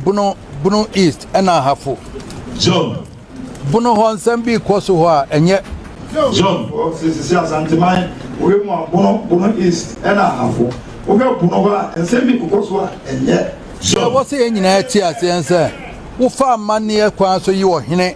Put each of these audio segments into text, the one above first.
Bono, Bono East ɛna Ahafo. John. Bono hɔ nsɛm bi kɔ so hɔ a ɛnyɛ. John. Sisi Asanteman wei mu a Bono, Bono East ɛna Ahafo. Wohwɛ Bono hɔ a nsɛm bi kɔ so a ɛnyɛ. John. Ɛwɔ sɛ yɛn nyinaa te aseɛ sɛ wofa amanneɛ kwan so yi ɔhene.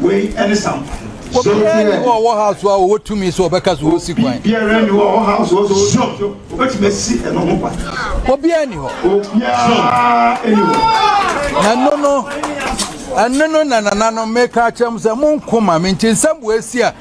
Wei ne sampa no. Obiara ni hɔ a ɔwɔ ha so a ɔwɔ tumi sɛ ɔbɛka so ɔsi kwan. Obiara ni hɔ a ɔwɔ ha so ɔsɛ ɔsɔ ɔbɛtumi asi ɛno ho kwan. Obiara ni hɔ. Obiara ni hɔ. Na ɛno no ɛno no na nananom meka akyerɛ m sɛ mo nkoma me nti nsɛm wɔ asi a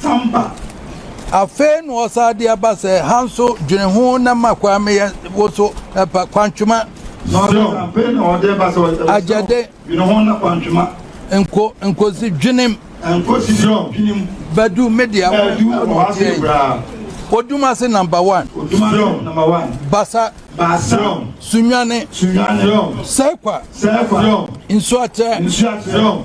san ba. Afei na ɔsan de aba sɛ, Ha nso, dwene ho na ma kwan meyɛ wo so pa, Kwantwema. Sɛ ɔ. Afei na ɔde ba sɛ, Ɔ. Agyɛde. Dwene ho na Kwantwema. Nko, nkosi dwenem. Nkosi sɛ ɔ. Dwenem. Badu, me dea. Badu, ɔ wɔ ase koraa. Odumase number one. Odumase number one. Basa. Basa. Sunyane. Sunyane. Sɛ kwa. Sɛ kwa. Nsuakyɛ. Nsuakyɛ.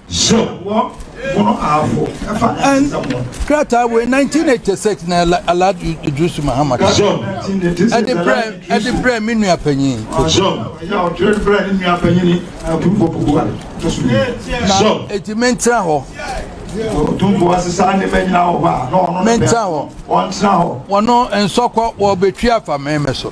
Krataa wei nineteen eighty six na Alad Idrisu Mahama ka ɛde brɛ ɛde brɛ mi nua panyin. Na eti mi n tena hɔ. Mi n tena hɔ. Wɔn nsɔkɔ wɔn betwi afa mɛmɛ so.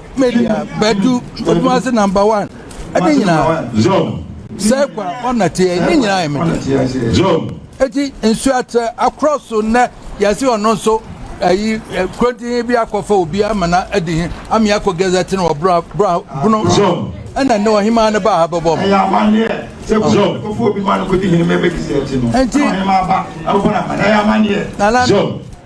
Media Badu Mfutuma-ase Number One ɛne nyinaa sɛ kwa ɔna teɛ ne nyinaa yɛ mede eti nsuo akyɛ akorɔ so nnɛ yɛsi ɔno nso ɛyi kurontin bi akɔfa obi ama na adi hin ami akɔ gɛzɛ ti na wɔ bra bra bunu ɛna ne ɔhemaa ne ba ha bɛbɔ mu. ɛyɛ amaneɛ sɛ kɔfɔ obi ma no kɔdi hin mɛmɛ kisɛ ti no ɛna ɔhemaa ba ɛbɔ na ma na ɛyɛ amaneɛ.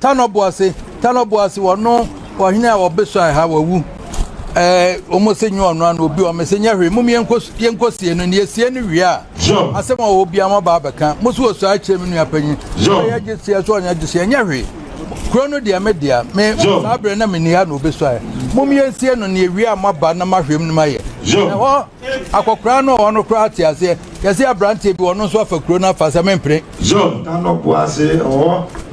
Tanɔboase, Tanɔboase wɔno ɔhene a ɔbesuae ha wawu ɛɛ wɔn se nyɛ ɔno ano obi wɔn se nyɛ hwee mom yɛnkɔ yɛnkɔ sie no ne yɛsie no wie a asɛm a ɔwɔ bia mo aba abɛka mo so wɔsua akyerɛ me nua panyin ɔyɛ gye sie so ɔnyɛ gye sie nyɛ hwee kuro no deɛ me dea me saa berɛ na menni ha na obesuae mom yɛnsie no ne yɛwie a moaba na mahwɛm no mayɛ ɛhɔ akɔkoraa no ɔwɔ no koraa te aseɛ yɛse aberanteɛ bi ɔno nso afa kuro no afa sɛ mempene John Tanɔboase ɛhɔ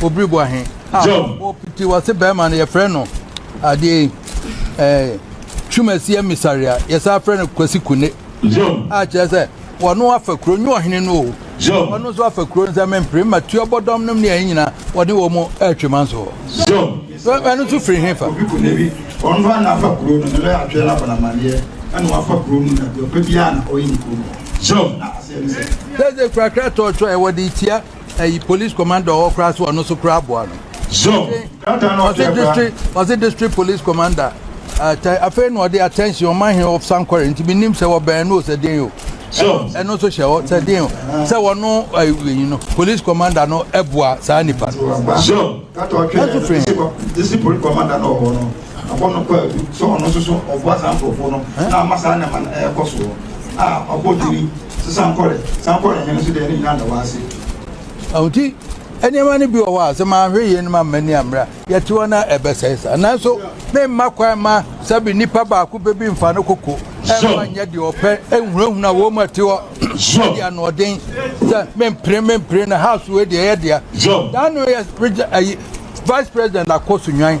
Obiri bɔ ahe? Ah, Job. O piti wase bɛrima no yɛfrɛ no adeɛ yi ɛɛ Twumasi emisari a yɛsan frɛ no Kwasi Kune. Job. A kyerɛ sɛ wɔno afa kuro nyɛ ɔhene no o. Job. Wɔno nso afa kuro nsɛ mempere ma tuo bɔdɔm nom ne ɛyi nyinaa wɔde wɔn mo ɛretwe ma nso. Job. Ɛno nso firi he fa? Obi kune bi wɔn fa na afa kuro no ne bɛ atwɛ na abɔnamadeɛ ɛna wafa kuro no na deɛ ɔpɛ biara na ɔyɛ ne kuro no. Job. Na aseɛ ne sɛ. Sɛ sɛ kurakura tɔɔtɔ ɛwɔ de tia. ɛyi police commander ɔwɔ koraa so ɔno so koraa aboa no ɔse district ɔse district police commander atɛ afei na ɔde attention ɔma he of sankɔre nti menim sɛ wɔbɛn no sɛ den o ɛno nso hyɛ hɔ sɛ den o sɛ wɔno ɛyi no police commander no ɛboa saa nipa no ɛso firi he Ɔbɔ no kwaadu sɛ ɔno nso so ɔboa saa nkurɔfoɔ no na ama saa nneɛma no ɛrekɔ soɔ a ɔbɔ dini sɛ Sankore Sankore hene nso deɛ ne nyinaa da hɔ ase. Nti nneɛma no bi wɔ hɔ a sɛ manhwɛ yie no ma m'ani ammere a yɛte hɔ na ɛbɛsɛe saa nanso memma kwan mma sɛbe nipa baako pɛ bi mfa ne koko ɛmfa nyɛ deɛ ɔpɛ ɛnhunahuna wɔn mu ɛte hɔ ɛde anoɔden sɛ mempere mempere na house wei deɛ ɛyɛ dea daa no yɛ vice president akɔ so nwan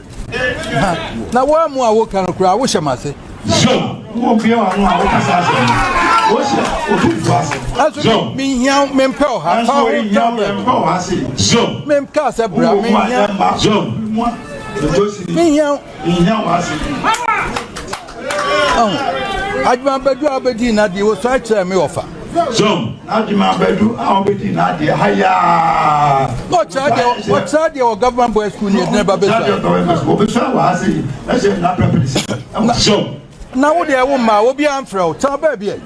na woamu a woka no koraa wohyɛ m'ase ɛso menhia mempɛ ɔha menka sɛ bra menhia menhia Adwuma bɛdu a wobɛdii n'adeɛ wɔsuae kyerɛɛ me wɔfa so adwuma bɛdu a wobɛdii n'adeɛ ha yaa ɔkyerɛ deɛ wɔ government boy school ne ɛdina ba bɛsuawɔbɛsua wɔ ha sei ɛhyɛ nna pɛpɛne so na wo deɛ wo mmaa obi amfrɛ wo tena baabi ɛ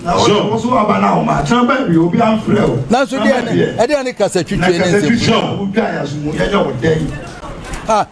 wo so aba na wo mmaa tena baabi obi amfrɛ wo nanso deɛ ɛdeɛ ne kasa twitwie ne nsɛm ah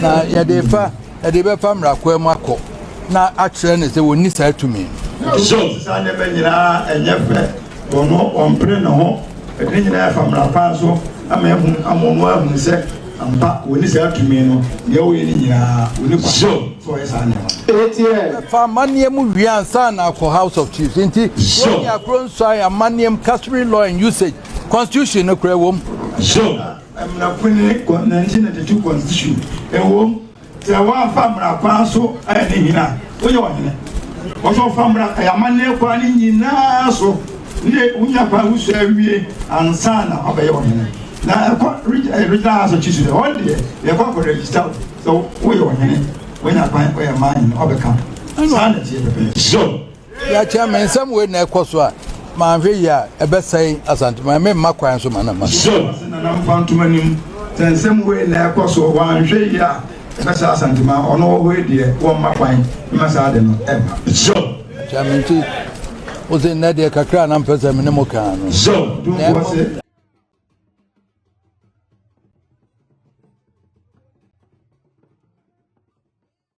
Na yɛde refa yɛde bɛfa mmarakoa mu akɔ na akyerɛ no sɛ wɔnni saa tumi no. So saa nneɛma nyinaa ɛnyɛ fɛ wɔ no ɔmpere ne ho ɛde ne nyinaa ɛfa mmara kwan so ama ahu ama ɔno ahunu sɛ ampa wɔnni saa tumi no nea wɔyɛ ne nyinaa wɔnni kwa so ɔyɛ saa nneɛma no. Fa amanneɛ mu wie ansa na akɔ House of Chiefs nti wɔnyɛ akoro nsuan amanneɛ mu customary law and usage constitution no kora wɔ mu. Mmara kwan ne kɔ 1992 constitution ɛwom sɛ w'anfa mmara kwan so ayɛ ne hene a woyɛ ɔhene wɔsɛ ɔfa mmara ɛyɛ amanneɛ kwan ne nyinaa so ne wonya kwan wosua awie ansa na wabɛyɛ ɔhene na ɛkɔ regional house of chiefs dɛ wɔn deɛ yɛkɔ akɔ register sɛ woyɛ ɔhene wonya kwan ɔyɛ maa hene ɔbɛka saa na ɛteɛ pɛpɛɛpɛ. Yɛakyɛ me nsɛm wei na ɛkɔ so a, manhwɛ yie a, ɛbɛsɛe Asanteman. Memma kwan nso ma no mma. Sure. Ɔse Nana mfa ntom anim. Sɛ nsɛm wei na ɛkɔ so, wanhwɛ yie a, ɛbɛsɛe Asanteman. Ɔno wɔ hɔ yi deɛ, wɔmma kwan mma saa ade no mma. Sure. Kyɛ me nti, ɔse nnɛ deɛ kakra a na mpɛ sɛ me ne mo kaa no. Sure. Ɔtumfoɔ se.